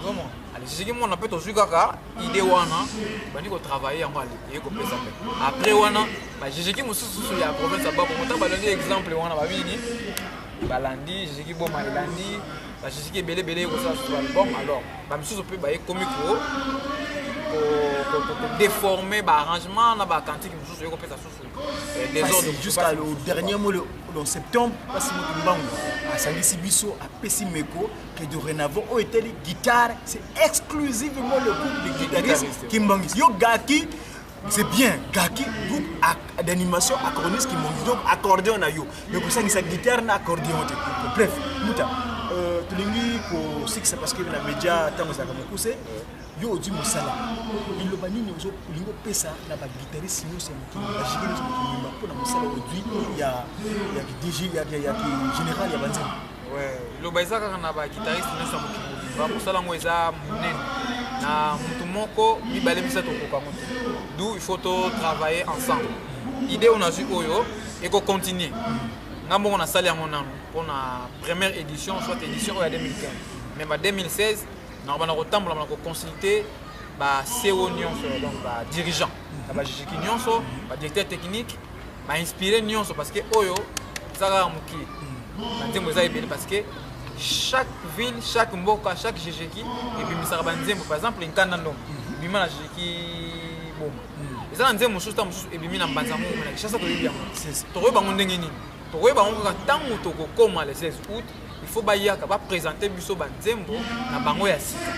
Speaker 3: vraiment soki mwana mpe tozwi kaka idée wana bandi kotravaille yango eye kopesa mpe après wana bajejeki mosususu ya province ya bakongo ntango balandi exemple wana babini balandi jejeki boma elandi basusuki ebele ebele ekosala susu album alors bamisusu mpe baye komi kodeforme baarrangement na bacantique mosusu oye kopesa susu eh, desordre jusqu'à le dernier
Speaker 2: mot en septembre mpasi moto mbangu asangisi biso apesi meko que dorénavant oyo etali guitare c'est exclusivement le groupe de guitariste kimbanguisi yo gaki c'est bien kaki groupe d'animation accordiste qui monte donc accordéon na yo mais kosangisa guitare na accordéon te bref muta euh, tolingi kosikisa parce que na média ntango ezalaka mokuse yo odi mosala liloba nini olingi opesa na baguitariste nyonso ya mokili bajike nyonso mokili mobimba mpo na mosala odui ya dg ya général ya banzembo liloba
Speaker 3: eza kaka na baguitariste nyonso ya mokili mobimba mosala yango eza monene na motu moko mibale misato okoka yango te d'où il faut totravailler ensemble idée oyo nazwi oyo ekocontinue nga moko nasali yango nano mpo na première édition soit édition oyo ya 2015 mais ba 2016 nakobanda kotambola na koconsulte ba co nyonso donc badirigeant ya bajijiki nyonso badirecteur technique ba inspire nionso parce que oyo eza kaka moke ba nzembo eza ebele parce que chaque ville chaque mboka chaque jejeki ebimisaka ba nzembo par exemple nkanda ndongo ebima na jejeki boma eza na nzembo mosusu ta mosusu ebimi na mbanza mongo na kishasa toyebi yango tokoyeba bango ndenge nini tokoyeba bango kaka ntango tokokoma le 16 août il faut bayaka bapresente biso banzembo na bango ya sika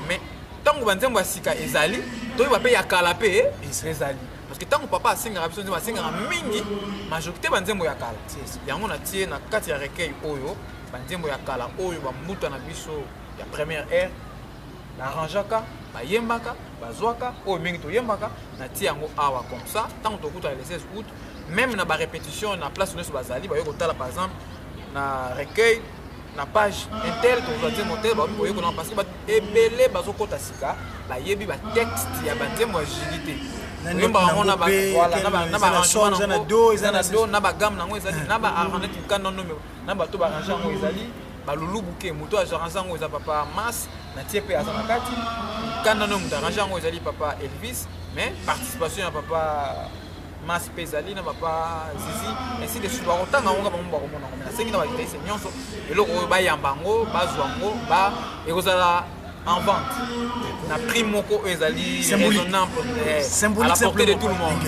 Speaker 3: mais ntango banzembo ya sika ezali toyeba mpe ya kala mpe ezali parce que ntango papa asengaka biso nzembo asengaka mingi majorité banzembo ya kala yango natie na kati ya recueil oyo banzembo ya kala oyo bambuta na biso ya première aire narangeaka bayembaka bazwaka oyo mingi toyembaka natie yango awa comme ça ntango tokutana le 16 août même na barépétition na place nyonso bazali baye kotala par exemple na recueil na page intel tokozwa nzembo te baomi koyekola parce que ebele bazokɔta sika bayebi batexte ya banzembo ya jili te oyembaka yango na baarrangement na do eza na do na bagame nango ezali na baarrangement tuka nono na bato baarrange yango ezali balulubuke moto aarrange yango eza papa mas na tie mpe aza na kati kanda no moto arrange yango ezali papa elvis mais participation ya papa masi mpe ezali na papa zizi ainsi de suite bakotanga yango nga bango bakomona yango nasengi na bajournaliste nyonso eloko oyo bayamba yango bazwa yango ba ekozala en vente na prix moko oyo ezali raisonnable à la portée de tout le monde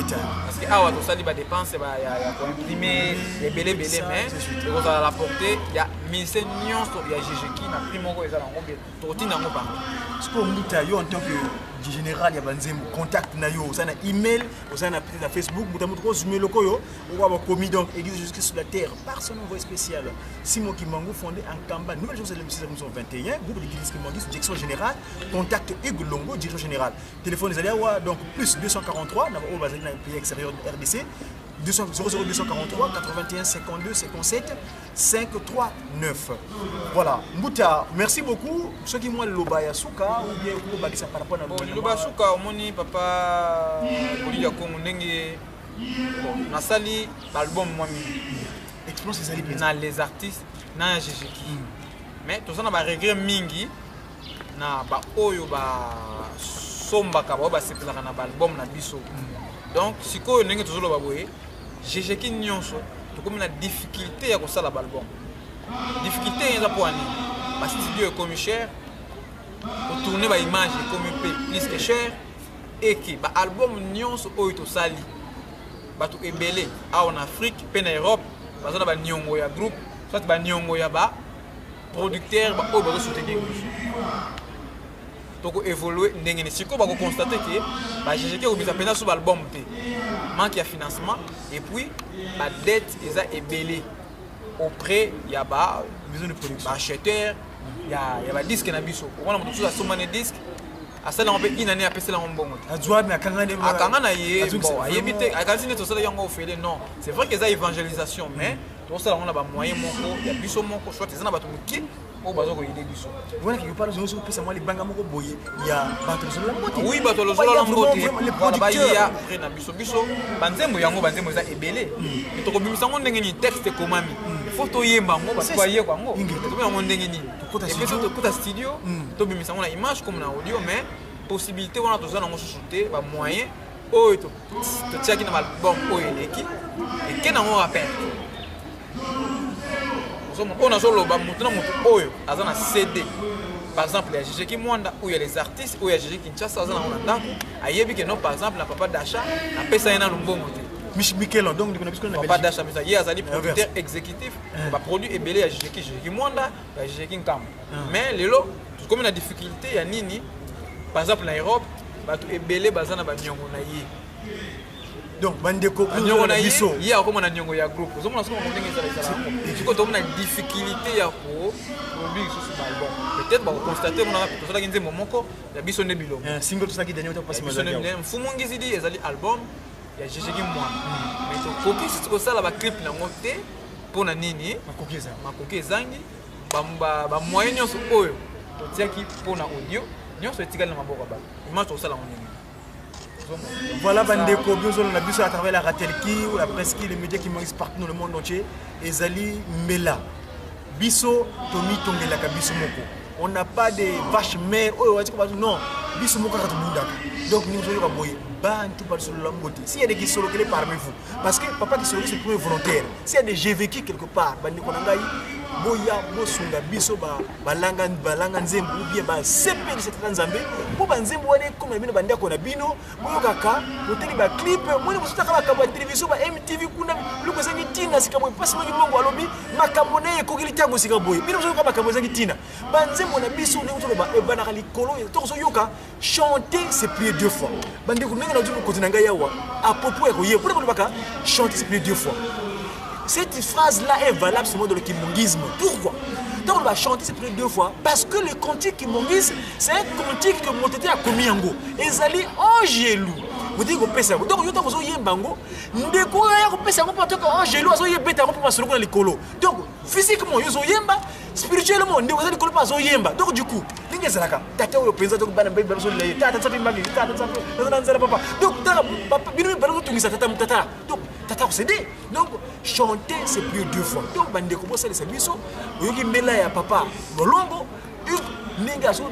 Speaker 3: parce que awa tosali badépense ya koimprime ebelebele mais ekozala la portée ya mise nyonso ya ggki na prix moko eza na yango tokotinda yango bango sikoyo mbuta
Speaker 2: yo en tant que général ya banzembo contact na yo oza na email oza na peut-être na facebook mbuta moto kozuma eloko oyo okoa bakomi donc église jusque sur la terre par son envoyé spécial simo kimbangu fondé en kamba nouvelle chose de 1921 groupe de guidis kimbanguiste direction générale contact hugues longo direction générale téléphone ezali awa donc plus 243 na baoyo bazali na pays extérieur rdc 200 243 81 52 57 539 voilà mbuta merci beaucoup soki mwa liloba ya suka ou bien kobakisa par rapport na liloba ya suka omoni
Speaker 3: papa bolili ya kongo ndenge nasali baalbum mwa mingi expérience
Speaker 2: ezali mpenza na les artistes
Speaker 3: na ya jejeki hmm. mais toza na baregret mingi na baoyo basombaka baoyo basepelaka na baalbum na biso hmm. donc sikoyo ndenge tozoloba boye jejeki nyonso tokomi na difficulté ya kosala balbum difficulté eza mpo ya nini bastudio ekomi cher kotourne baimage ekomi mpe plus que cher eke baalbum nyonso oyo tosali bato ebele awa na afrique mpe na europe baza na baniongo ya groupe soit baniongo ya baproducteur baoyo bazosoutenir biso toko évoluer ndenge ni sikoyo bako constater que ba GGK obisa pena sous album te manque ya financement et puis ba dette eza ebele auprès ya ba maison de production ba
Speaker 2: acheteur
Speaker 3: ya ya ba disque na biso okona moto susu asomba ne disque asala yango mpe inane apesela yango mbongo te azuami akangani
Speaker 2: akanga na ye
Speaker 3: bon ayebi te akanisi neti osalaki yango ofele non c'est vrai que eza évangélisation mais tosala yango na bamoyen moko ya biso moko soit eza na bato moke oyo baza koyede biso wana quelque part ozongi soki
Speaker 2: opesa mwa libanga moko boye ya bato lozolola mbote oui bato lozolola mbote
Speaker 3: wana baya près na biso biso banzembo yango banzembo eza ebele hmm. tokobimisa yango ndenge nini texte ekomami hmm. faut toyemba yango bato bayekwa yango tokomi yango ndenge nini epeso tokota studio hmm. tobimisa yango na image comme na audio mais possibilité wana toza nango susu te bamoyen oyo totiaki na baalbum oyo eleki eke nango rappel oyo nazoloba moto na moto oyo aza na cd par exemple ya jije kimwanda oyo ya les artistes oyo ya jije kinshasa aza nango na ndako ayebi ke non par exemple na papa dacha napesa ye na lumbongo te Michel donc ndeko na biso
Speaker 2: na Papa Dacha Mesa ye azali
Speaker 3: producteur exécutif eh. ba produits ebele ya Jijeki Jijeki Mwanda ya Jijeki Nkamba ah. mais lelo tokomi na difficulté ya nini par exemple na Europe bato ebele baza na ba miongo na ye
Speaker 2: donc bandeko nyongo na biso ye
Speaker 3: akoma na nyongo ya groupe ozomona soki ndenge ezala ezala sikoyo tomona difficulté ya ko produire lisusu balbon peut-être bakokonstate monaka tosalaki nzembo moko ya biso nde bilongo eh, single tosalaki daniel tapasi
Speaker 2: mfumu ngizidi
Speaker 3: ezali album ya jejeki mwana hmm. mais tokoki sisi kosala baclip nango te mpo na nini makoki ezangi bamoyen nyonso oyo totiaki mpo na audio nyonso etikali na maboko ya bato image tokosala yango ndenge
Speaker 2: Voilà bandeko biozolo na biso à travers la Ratelki ou la Preski les médias qui moyens partout dans le monde entier ezali mbela biso tomitongelaka biso moko on n'a pas de vache mère oyo wati ko non biso moko kaka tobundaka donc nous oyo ka boye bantu basolola mbote s'il y a des kisolokele parmi vous parce que papa kisolo c'est premier volontaire s'il y a des j'ai vécu quelque part bandeko na ngai boya bosunga biso ba balanga balanga nzembo ou bien basepelisa tata nzambe mpo banzembo wana ekoma na bino bandako na bino boyokaka botali baclipe moni bosutaka makambo ya televizio ba mtv kuna biloko ezangi ntina sika boye mpasi moki mongo alobi makambo na ye ekokeli ntango sika boye bino bozoyoka makambo ezangi ntina banzembo na biso ndenge toloba ebanaka likolo tokozoyoka chanter c'est prier deux fois bandeko ndenge nazwi mokonzi na ngai awa apropos ya koyeba mpona balobaka chanter c'est prier deux fois cette phrase là est valable seulement dans le kimongisme pourquoi ntango oloba chanter c'est prier deux fois parce que le cantique kimongisme c'est un cantique que moto te akomi yango ezali angelu botiki kopesa yango donc yo ntango ozoyemba yango ndeko oyo aya kopesa yango mpo toka angelu azoyebeta yango mpo masolo kuna likolo donc physiquement yo ozoyemba spirituellement ndeko aza likolo mpo azoyemba donc du coup ndenge ezalaka tata oyo mpenza donc bana mbebi babiso na ye tata nsapi mami tata nsapi naza na nzela papa donc tata bino mibale ozotungisa tata tata donc tata kosede donc chanter c'est plus deux fois donc bandeko bosalisa biso oyoki mbela ya papa lolombo ndenge azo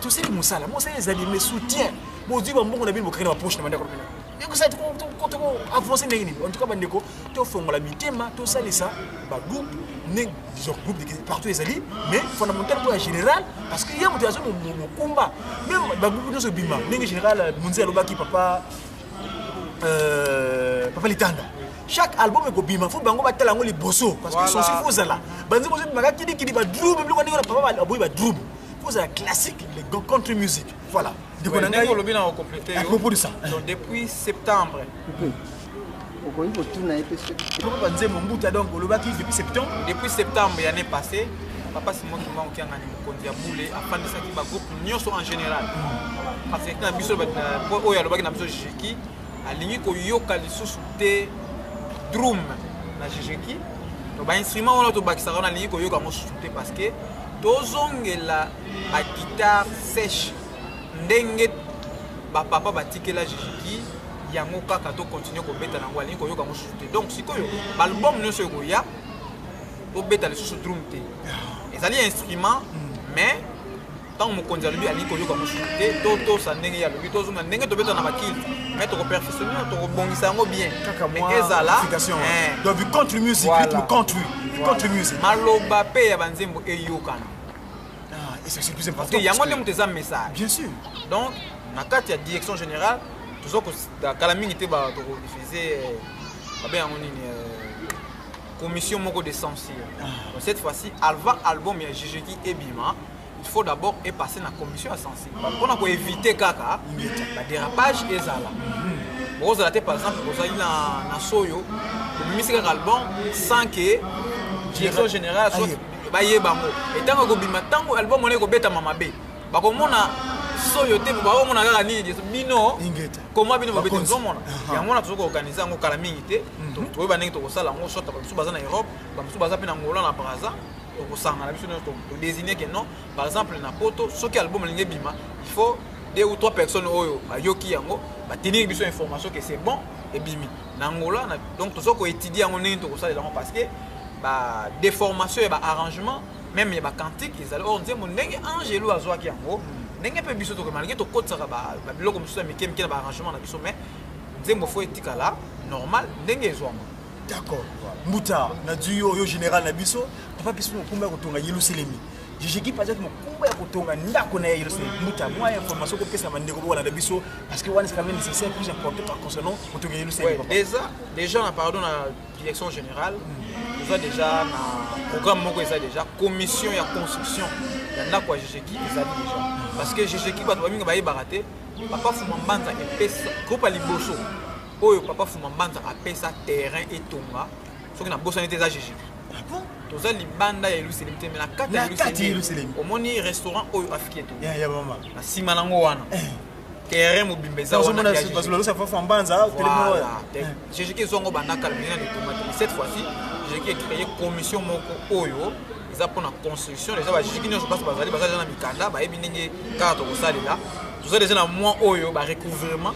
Speaker 2: tosali mosala mosala ezali mais soutien bozwi bambongo na bino bokaki na bapoche na bandeko na bino ekosa toko avancer ndenge nini en tout cas bandeko tofongola mitema tosalisa bagroupe ne genre groupe de partout ezali mais fondamental mpo ya général parce que ye moto aza mokumba meme bagroupe nyonso ebima ndenge général euh, monzi alobaki papa euh, papa litanda chaque album ekobima fo bango batala yango liboso parce que sonsi fo ozala banzi bozobimaka kidikidi badrum biloko ndenge na papa aboyi badrum fo ozala classique le contre musique Voilà. Ndeko na ngai olobi
Speaker 3: na okomplete yo. Propos de ça. Donc
Speaker 2: depuis
Speaker 3: septembre. okoki kotuna ye mpe soko
Speaker 2: banzembo mbuta donc olobaki depuis septembre depuis septembre ya
Speaker 3: année passée papa simon kimba okiangani mokonzi ya bule afandisaki bagroupe nyonso en général parce que na biso oyo alobaki na biso jeki alingi koyoka lisusu te drum na jeki to bainstrument wana tobakisaka wana alingi koyoka yango susu te parce que tozongela ba guitare sèche ndenge bapapa batikela jijiki yango kaka tokontinue kobeta nango alingi koyoka yango susu te donc sikoyo baalbum nyonso ekoya tobeta lisusu drum te ezali instrument mais ntango mokonzi alobi alingi koyoka mosusu te totosa ndenge ye alobi tozonga ndenge tobeta na bakili mais tokoperfectionne tokobongisa yango bien ezala eh.
Speaker 2: maloba mpe ya
Speaker 3: banzembo eyokana Ah, et
Speaker 2: ça c'est plus important. Parce que yango nde moto eza message.
Speaker 3: Bien sûr. Donc
Speaker 2: na
Speaker 3: kati ya direction générale toza kala mingi te bato kodifuse euh, babe yango nini euh, commission moko de censure ah. cette fois-ci alva album ya jejeki ebima il faut d'abord epasser na commission ya censure mpona koevite kaka badérapage ezala mhm. bokozala te par exemple bozali na soyo obimisi kaka album sans que direction générale baye bango etango ekobima ntango album wana ekobetama mabe bakomona soyo te bakomona kaka nini bino koma bino bobete tozomona yango wana tozoki organise yango kala mingi te mhm. toyeba ndenge tokosala yango soit bamosusu baza na europe bamosusu baza mpe na ngola na braza tokosangana biso nyonso todesigne ke non par exemple na poto soki album alingi ebima il faut deux ou trois personnes oyo bayoki yango batiniki biso information ke c'est bon ebimi na Angola na, donc tozo ko étudier yango ndenge tokosalela yango parce que ba déformation ya ba arrangement même ya ba cantique ezali or nzembo ndenge angelo azwaki yango ndenge mpe biso tokoki malgré tokotisaka babiloko mosusu ya mike mike na ba arrangement na biso mais nzembo fo etikala normal ndenge ezwama d'accord
Speaker 2: mbuta na duyo yo général na biso papa biso mokumba ya kotonga yeluselemi jijiki azaki mokumba ya kotonga ndako na ye yelese mbuta mwa ya information kopesa bandeko bokolanda biso parce que wana c'est quand même nécessaire plus important par concernant kotonga yelese déjà déjà na
Speaker 3: pardon na direction générale eza déjà na programme moko eza déjà commission ya construction ya ndako ya jijiki ezali déjà parce que jijiki bato bamingi bayebaka te papa fuma mbanza epesa groupe ya liboso oyo papa fuma mbanza apesa terrain etonga soki nabosani te eza jiji ah toza
Speaker 2: libanda ya
Speaker 3: yerusalem te me na kati ya yerusalem omoni restaurant oyo afiki eto na nsima
Speaker 2: nango wana
Speaker 3: eh. terrain mobimba
Speaker 2: ezajejiki
Speaker 3: ezwango bandakala mena litomate cette fois-ci jejiki ecreye commission moko oyo eza mpona construction eza bajejiki nyonso basi bazali baza deja na mikanda bayebi ndenge kaka tokosalela toza deja na mwa oyo barecouvrement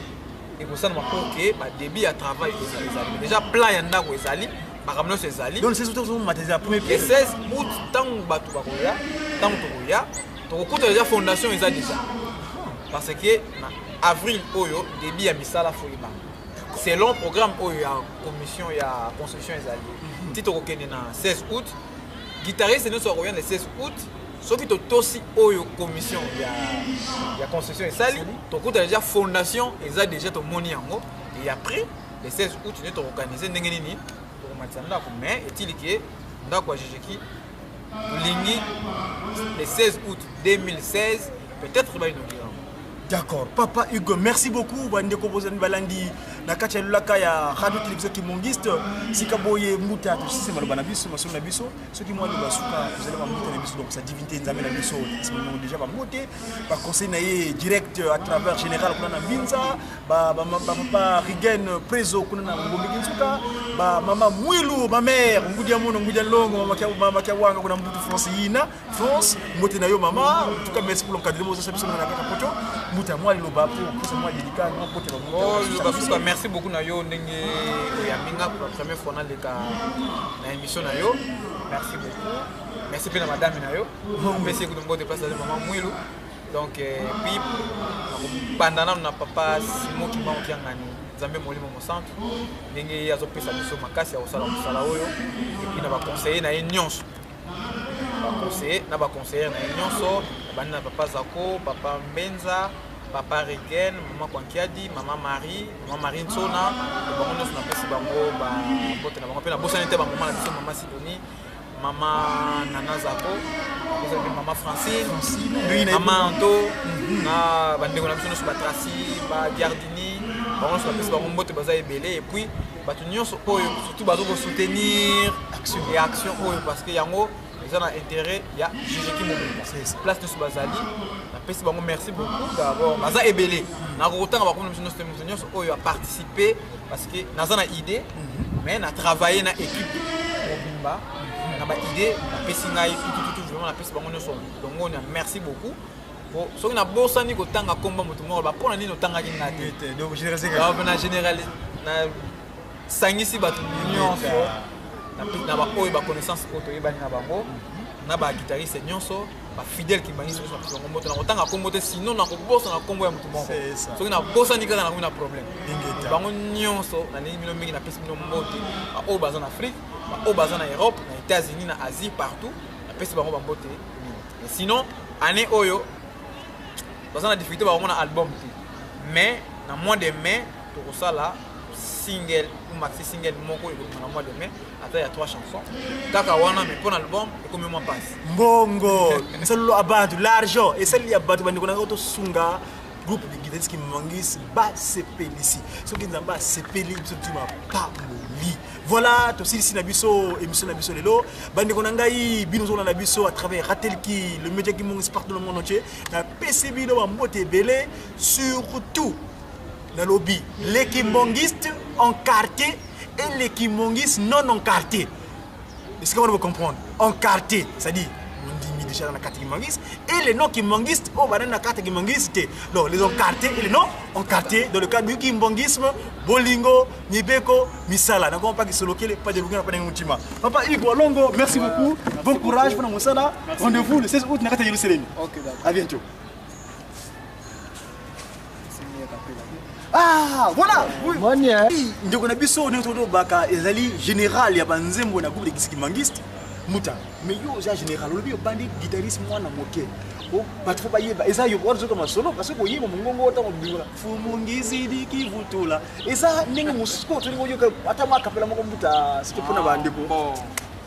Speaker 3: ekosalama mpo ke badebit ya travail ezali déjà plan ya ndako ezali makambo nyonso ezali donc le 16 août tozomata ezala
Speaker 2: premier pied le 16 août
Speaker 3: ntango bato bakoya ntango tokoya tokokuta déjà fondation eza déjà parce que na avril oyo débit ya misala foyebana selon programme oyo ya commission ya construction ezali mhm. ti tokokende na 16 août guitariste nyonso akoya na 16 août soki totosi oyo commission ya, ya construction esali tokuta deja fondation eza deja tomoni yango et après le 16 août nde toorganize ndenge nini tokomatisa ndako mais etili ke ndako ya jejeki tolingi le 16 août 2016 peut-être bainokira d'accord papa
Speaker 2: hugo merci beaucoup bandeko bozali balandi na kati ya lolaka ya radio television kimongiste sika boye mbuta tosisi maloba na biso masolo na biso soki mwa nde basuka kozala bambote na biso donc sa divinité nzambe na biso esimamamo déjà bambote baconseil na ye direct à travers général kuna na mbinza bapapa rigen preso kuna na ngombeki nsuka bamama mwilu mamare ngudi ya mono ngudi ya longo mamaki ya wanga kuna mbutu france yina france mbote na yo mama tuka merci pour l'encadrement ozasa biso na kaka poto mbuta ya mwa liloba mpo kosa mwa delika mwa mbote bambote merci beaucoup na yo
Speaker 3: ndenge oyambi nga pour la première fois naleka na emission na yo merci beaucoup merci mpe na madame na yo mpesi ekutu mbote place azali mama mwilu donc eh, puis nakobanda nano na papa simo kimbango kiangani nzambe molimo mosantu ndenge ye azopesa biso makasi ya kosala mosala oyo epuis na baconseiller na ye nyonso baconseiller na baconseillere na ye nyonso nabandi na papa zako papa mbenza papa Regen, maman Kwankiadi, maman Marie, maman Marie Nsona, bango nyonso napesi bango babote na bango mpe nabosani te bamama na biso mama Sidoni, mama Nana Zako, bosani mama Francine, mama Anto, mhm. na bandeko na biso nyonso batrasi, badiardini, bango nyonso napesi bango mbote baza ebele epuis bato nyonso oyo surtout bazokosoutenir action oyo parce que yango eza na intérêt ya jejeki mobimba place nyonso bazali napesi bango merci beaucoup d'abord baza ebele nakokotanga bakomi na biso nyonso te moto nyonso oyo aparticipe parce que naza na idée mhm. mais na travaille na équipe mobimba na baidée napesi ngai tutututu vraiment napesi bango nyonso longonia merci beaucoup po soki nabosani kotanga nkomba moto moko ba mpo na nini otangaki ngai te na
Speaker 2: généralise
Speaker 3: sangisi bato nyonso na baoyo baconnaissance oyo toyebani na bango na baguitariste nyonso bafidèle kimbangiso nyonso bakilongo moto nakotanga nkombo te sino nakobosana nkombo ya moto moko soki nabosani kaka nakomi na problème bango nyonso nalingi bino mingi napesi bino mbote baoyo baza na afrique baoyo baza na europe na états-unis na asie partout napesi bango bambote mingi sinon année oyo baza na difficulté bakomona album te mais na mois de mai tokosala single ou maxi single moko ekobima na mois de mai ata ya trois chansons kaka wana mais mpo na album ekomi mwa mpasi mbongo
Speaker 2: nsalolo ya bato l'argent esali ya bato bandeko na ngai tosunga groupe de guitariste qui mangis basepelisi soki nzambe asepeli biso tima pamoli voilà tosilisi na biso émission na biso lelo bandeko na ngai bino ozona na biso à travers ratelki le média qui mongis partout le monde entier napesi bino bambote ebele surtout nalobi les kimbongistes en quartier et les kimbongistes non en quartier esika wana bocomprendre en quartier c'est-à-dire ondimi déjà na kati kimbangiste et les non kimbangiste oyo oh, banani na kati ya kimbangiste te donc les encarté et les non encarté dans le cadre du kimbangisme bolingo mibeko misala na kompa kisolokele pa delukena pa ndenge motima papa igbo longo merci beaucoup bon courage mpona mosala rendez-vous le 16 août na kati ya yerusalemi à bientôt Ah, voilà ndeko na biso oyo nyonso tolobaka ezali général ya banzembo na groupe de kisikimangiste muta mais yo oza général olobi obandi guitariste mwana moke oh, bato fo bayeba eza yo ozoka masolo parce que oyeba mongongo ota mobima fumungizidiki vutula eza ndenge mosusu oyo tolingi oyoka ata mwa kapela moko mbuta sike mpo na bandeko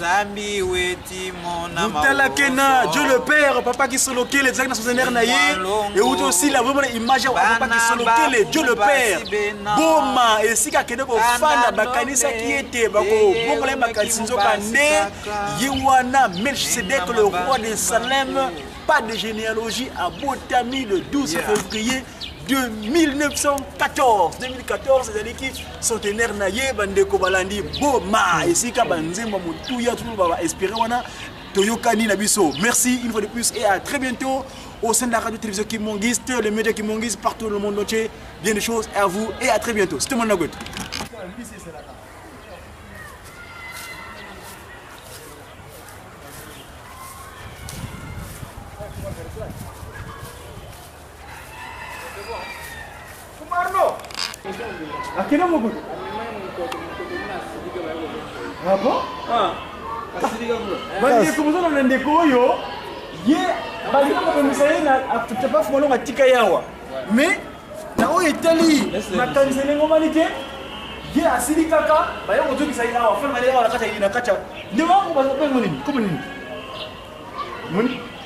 Speaker 3: zambi weti mona butalake na
Speaker 2: dieu le père papa kisolokele ezalaki na sozenaire na ye euti osila bomona image ya papa kisolokele dieu le père boma esika akende kofanda bakanisaki ete bakobongola ye makanisi nzoka nde ye wana melchisedek le roi de salem pas de généalogie abotami le 12 février 1914 2014 ezalaki centenaire na ye bandeko balandi boma hmm. esika banzembo motuya toloba ba espere wana toyokani na biso merci une fois de plus et à très bientôt au sein de la radio télévision kimongiste les médias kimongiste partout le monde entier bien des choses à vous et à très bientôt c'était mon nagote akenda mokolo abo bandeko bozana na ndeko oyo ye balingi kobongisa ye na tepafu molongo atika ye awa mais na oyo etali makanisa ndenge omani te ye asili kaka baya kozongisa ye awa fana awa na kati ya ndeko yango bazobengo nini komo nini moni